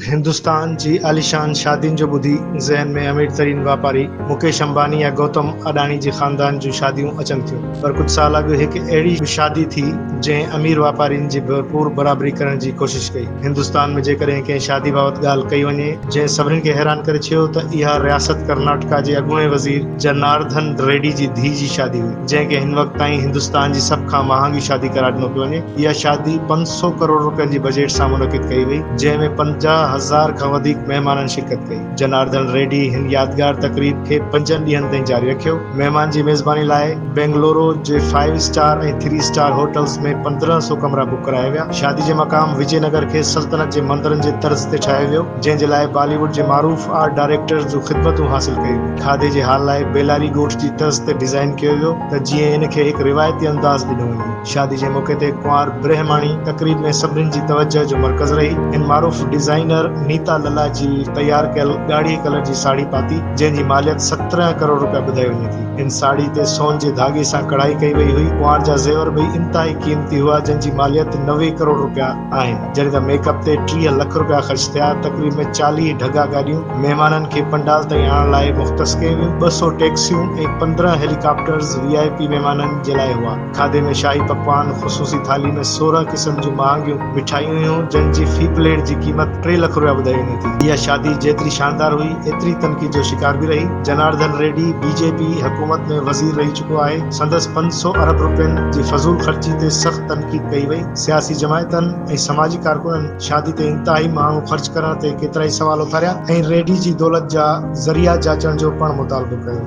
هندستان جي عاليشان شادين جو ٻڌي ذهن ۾ امير ترين واپاري مڪيش امباني يا گوتم اڏاڻي جي خاندان جون شاديون اچن ٿيون پر ڪجهه سال اڳ هڪ اهڙي به شادي ٿي جنهن امير واپارين جي ڀرپور برابري ڪرڻ جي ڪوشش ڪئي هندستان ۾ جيڪڏهن ڪنهن شادي بابت ڳالهه ڪئي وڃي جنهن سڀني کي حيران ڪري ڇيو ته اها رياست ڪرناٽڪا جي اڳوڻي وزير جنارڌن ريڊي جي ڌيء جي شادي هئي. جنهن کي هن وقت تائين هندستان جي سڀ کان مهانگي شادي قرار ڏنو پيو وڃي. اها شادي پنج سؤ ڪروڙ رپين جي بجيٽ سان منعقد ڪئي وئي، جنهن ۾ پنجاهه هزار کان وڌيڪ مهمانن شرڪت ڪئي. جنارڌڻ ريڊي هن يادگار تقريب کي پنجن ڏينهن تائين جاري رکيو. مهمان جي ميزباني لاء بينگلورو جي five star ۽ three star hotels ۾ پندرهن سؤ ڪمرا بڪ ڪرايا ويا. شادي جو مقام وجي نگر کي سلطنت جي مندرن جي طرز تي ٺاهيو ويو. جنهن جي لاء بالي ووڊ جي معروف آرٽ ڊائريڪٽرز جون خدمتون حاصل ڪيون. کاڌي جي هال لاء بيلاري ڳوٺ جي طرز تي ڊيزائين ڪيو ويو ته جيئن ان کي هڪ روايتي انداز ڏنو وڃي. شادي جي موقعي تي ڪنوار برهماڻي تقريب ۾ سڀني جي توجهه جو مرڪز رهي. هن معروف ڊيزائينر نيتا للا جي تيار ڪيل ڳاڙهي ڪلر جي ساڙهي پاتي جنهن جي ماليت سترهن ڪروڙ روپيا ٻڌائي وڃي ٿي. هن ساڙهي تي سون جي ڌاڳي سان ڪڙهائي ڪئي وئي هئي. ڪنوار جا زيور به انتهائي قيمتي هئا جن جي ماليت نوي ڪروڙ روپيا آهن جڏهن ته ميڪ اپ تي ٽيهه لک رپيا خرچ ٿيا تقريب ۾ چاليهه ڍڳا گاڏيون مهمانن کي پنڊال تائين آڻڻ لاء مختص ڪيون ويون ٻه سؤ ٽيڪسيون ۽ پندرهن هيليڪاپٽرز وي آء پي مهمانن جي لاء هئا کاڌي ۾ شاهي پڪوان خصوصي ٿالهي ۾ سورهن قسم جون مهانگيون مٺايون هيون جن جي في پليٽ جي قيمت ٽي لک رپيا ٻڌائي وڃي ٿي اها شادي جيتري شاندار هئي ايتري تنقيد جو شڪار به رهي Janardhan Reddy B J P حڪومت ۾ وزير رهي چڪو آهي سندس پنج سؤ ارب رپين جي فضول خرچي تي سخت تنقيد ڪئي وئي. سياسي جماعتن ۽ سماجي ڪارڪنن شادي تي انتهائي ماڻهو خرچ ڪرڻ تي ڪيترائي سوال اٿاريا ۽ ريڊي جي دولت جا ذريعا جاچڻ جو پڻ مطالبو ڪيو.